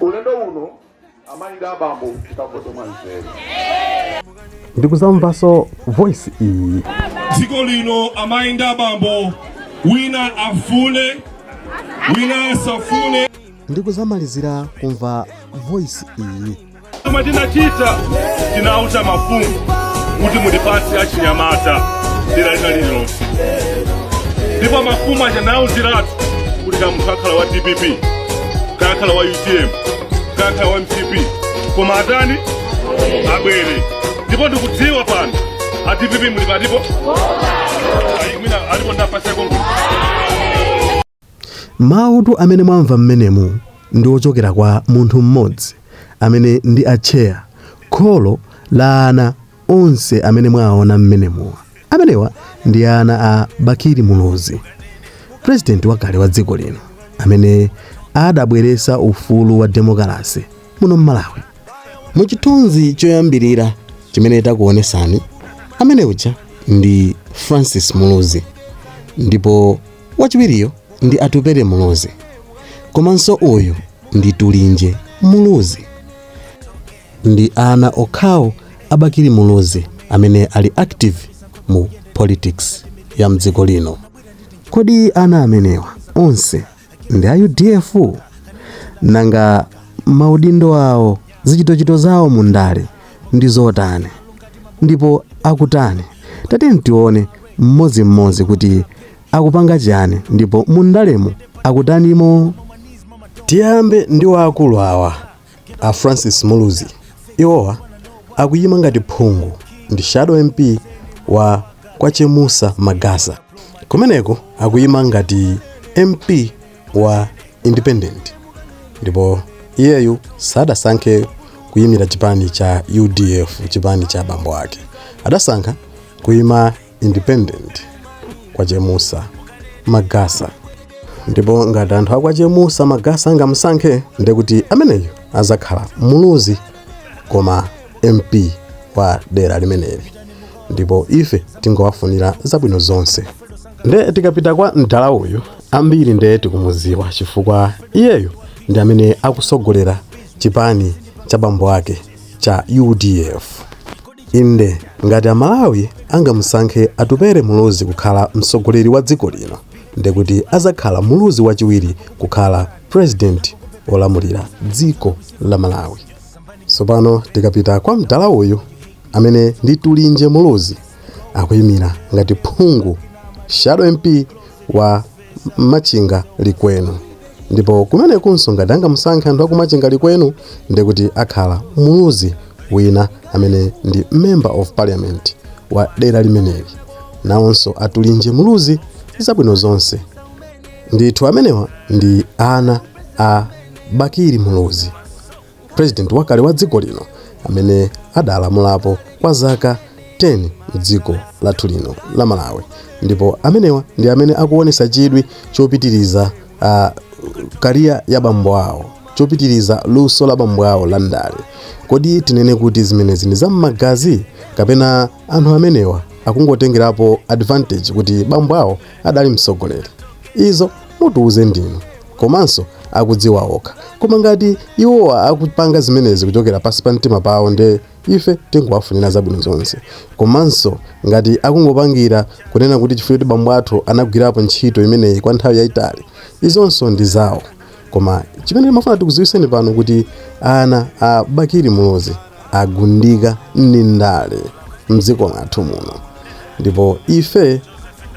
ulendo uno amayi ndi abambo tikavote mwanzeru ndikuzamvanso voice iyi dziko lino amayi ndi abambo wina afune wina asafune ndikuzamalizira kumva voice iyi Chomwe tinachita tinauza mafumu kuti mutipatse achinyamata dera lina lililonse, ndipo mafumu aja tinawauziratu kuti kaya munthu akhala wa dpp kaya akhala wa utm kaya akhala wa mcp koma atani abwere, ndipo ndikudziwa pano a dpp muli patipo ayi mwina alipo ndapaseko Mawutu amene mwamva mmenemu ndi ochokera kwa munthu mmodzi amene ndi a Tcheya, kholo la ana onse amene mwawaona mmenemuwa. Amenewa ndi ana a Bakili Muluzi, President wakale wa dziko lino amene adabweresa ufulu wa demokalasi muno mMalawi. Mu chithunzi choyambilira chimene takuonesani, amene uja ndi Francis Muluzi ndipo. Wachiwiriyo ndi Atupele Muluzi. Komanso uyu ndi Tulinje Muluzi. Ndi ana okhawo a Bakili Muluzi amene ali active mu politics ya mdziko lino. Kodi ana amenewa onse ndi a UDF? Nanga maudindo awo, zichitochito zawo mu ndale ndi zotani ndipo akutani tatiyeni tione mmodzimmodzi kuti akupanga chiyani ndipo mundalemo akutanimo tiyambe ndi waakulu awa a francis muluzi iwowa akuyima ngati phungu ndi shadow mp wa kwa chemusa magasa kumeneko akuyima ngati mp wa independent ndipo iyeyu sadasankhe kuyimira chipani cha udf chipani cha bambo ake adasankha kuyima independent kwa chemusa magasa ndipo ngati anthu akwa chemusa magasa angamusankhe ndekuti ameneyo azakhala muluzi koma mp wa dera limeneli ndipo ife tingowafunira zabwino zonse nde tikapita kwa mdala uyu ambiri nde tikumuziwa chifukwa iyeyo ndi amene akusogolera chipani cha bambo ake cha udf inde ngati amalawi angamusankhe atupere muluzi kukhala mtsogoleri wa dziko lino ndekuti azakhala muluzi wachiwiri kukhala president olamulira dziko la malawi tsopano tikapita kwa mdala uyu amene ndi tulinje muluzi akuyimira ngati phungu shadow mp wa machinga likwenu ndipo kumenekunso ngati angamusankhe anthu akumachinga likwenu ndiye kuti akhala muluzi wina amene ndi member of parliament wa dera limeneli nawonso atulinje muluzi zabwino zonse ndithu amenewa ndi ana a bakiri muluzi president wakale wa dziko lino amene adalamulapo kwa zaka 10 mdziko lathu lino la malawi ndipo amenewa ndi amene akuonesa chidwi chopitiriza uh, kariya ya bambo awo chopitiriza luso la bambo awo la ndale kodi tinene kuti zimenezi ndi zam'magazi kapena anthu amenewa akungotengerapo advantage kuti bambo awo adali mtsogoleri izo mutiuze ndinu komanso akudziwa okha koma ngati iwowa akupanga zimenezi kuchokera pansi pa mtima pawo nde ife tingowafunira zabwino zonse komanso ngati akungopangira kunena kuti chifukwa choti bambo athu anagwirapo ntchito imeneyi kwa nthawi yayitali izonso ndi zawo koma chimene timafuna tikudziwiseni pano kuti ana a bakiri muluzi agundika ndi ndale mdziko lathu muno ndipo ife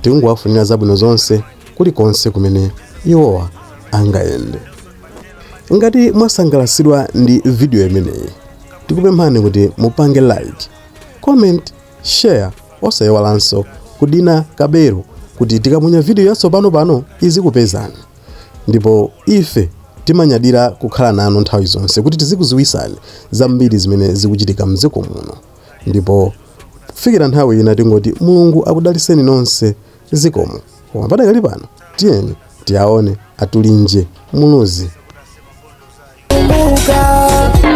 tikungowafunira zabwino zonse kulikonse kumene iwowa angayende. Ngati mwasangalasidwa ndi video imeneyi, tikupemphani kuti mupange like, comment, share osayiwalanso kudina kabelo kuti tikaponya video yatsopano pano izikupezani. Ndipo ife timanyadira kukhala nanu nthawi zonse kuti tizikuziwisani zambiri zimene zikuchitika mdziko muno. Ndipo kufikira nthawi ina tingoti Mulungu akudaliseni nonse. Zikomo. Koma padakali pano tiyeni tiaone atulinje Muluzi.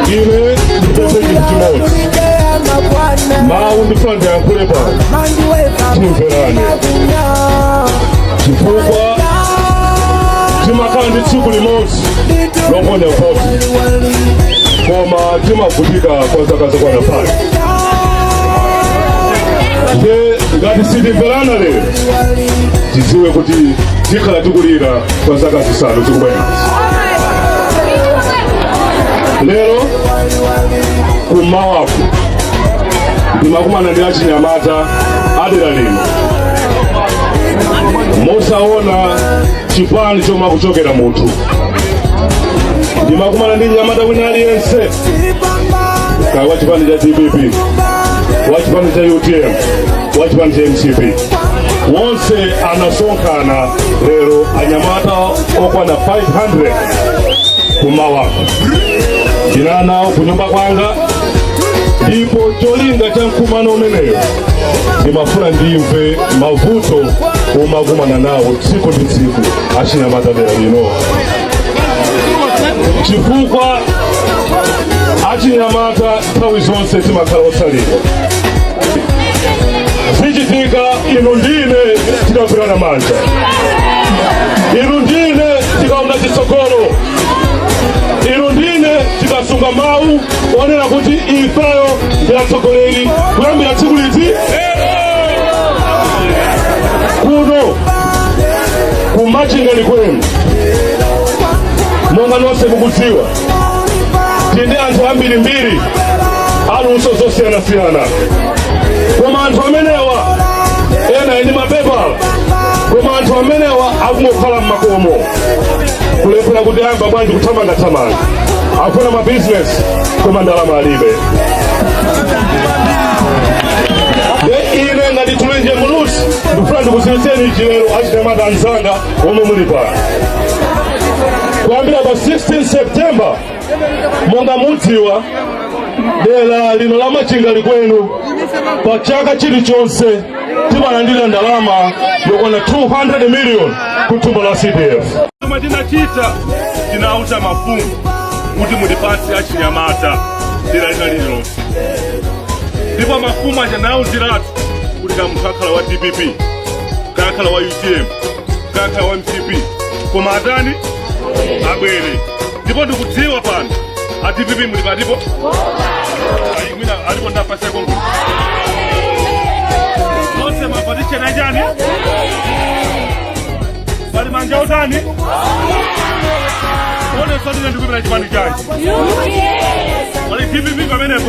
Ine ndipotu chimodzi mawu ndifuna ndiyankhule pano timverane chifukwa timakhala ndi tsiku limodzi loponya voti koma timavutika kwa zaka zokwana five nde ngati sitimverana lero tidziwe kuti tikhala tikulira kwa zaka zisanu zikubwerazi lero kummawaku ndimakumana ndi achinyamata adera lino mosaona chipani chomwe akuchokera munthu ndimakumana ndi mnyamata wina aliyense kaya wa chipani cha dpp wa chipani cha utm wa chipani cha mcp wonse anasonkhana lero anyamata okwana 500 kummawaku ndinali nawo ku nyumba kwanga ndipo cholinga cha mkumano umeneyo ndimafuna ndimve mavuto omwe akumana nawo tsiku ndi tsiku achinyamata dera lino chifukwa achinyamata nthawi zonse timakhala otsalira zichitika inu ndine tikagwirana manja inu ndine tikaona chitsogolo inu ndine tikasunga mawu onena kuti ifeyo ndi atsogoleri kuyambira tsiku liti kuno kumachinga likwenu monga nonse mukudziwa tili ndi anthu ambirimbiri aluso zosiyanasiyana koma anthu amenewa ena ali ndi mapepala koma anthu amenewa akungokhala mmakomo kulephera kuti ayamba bwanji kuthamangathamanga akufuna mabizinesi koma ndalama alibe ine ngati Tulinje Muluzi ndikufuna ndikuziwitseni ichi lero achinyamata anzanga omwe muli pano kuyambira pa 16 september monga mudziwa dera lino la machinga likwenu pa chaka chilichonse timalandira ndalama yokwana 200 million ku thumba la cdf chomwe tinachita tinauza mafumu kuti mutipatse achinyamata dera lina lililonse ndipo mafumu aja ndinawauziratu kuti kaya munthu akhala wa dpp kaya akhala wa utm kaya akhala wa mcp koma atani abwere ndipo ndikudziwa pano a dpp muli pati apo Ayi, mwina alipo ndapasa kongo onse mapatiche na chani pali manja otani one sotine ndikupita chipani chani wa dpp pamenepo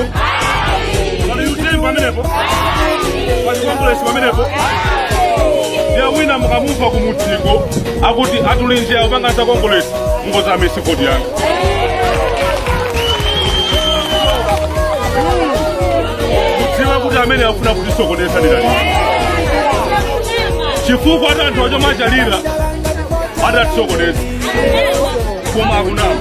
wa utm pamenepo wachikongolesi pamenepo ndiye wina mukamumva kumudziko akuti atulinji akupanga za kongolesi ndi wozama msikodi yanga mudziwe kuti amene afuna kutisokoneza ndani chifukwa ati anthu ajomachalira atatisokoneza koma akunama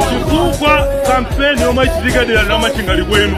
chifukwa kampeni yomwe ichitika dera la machinga likwenu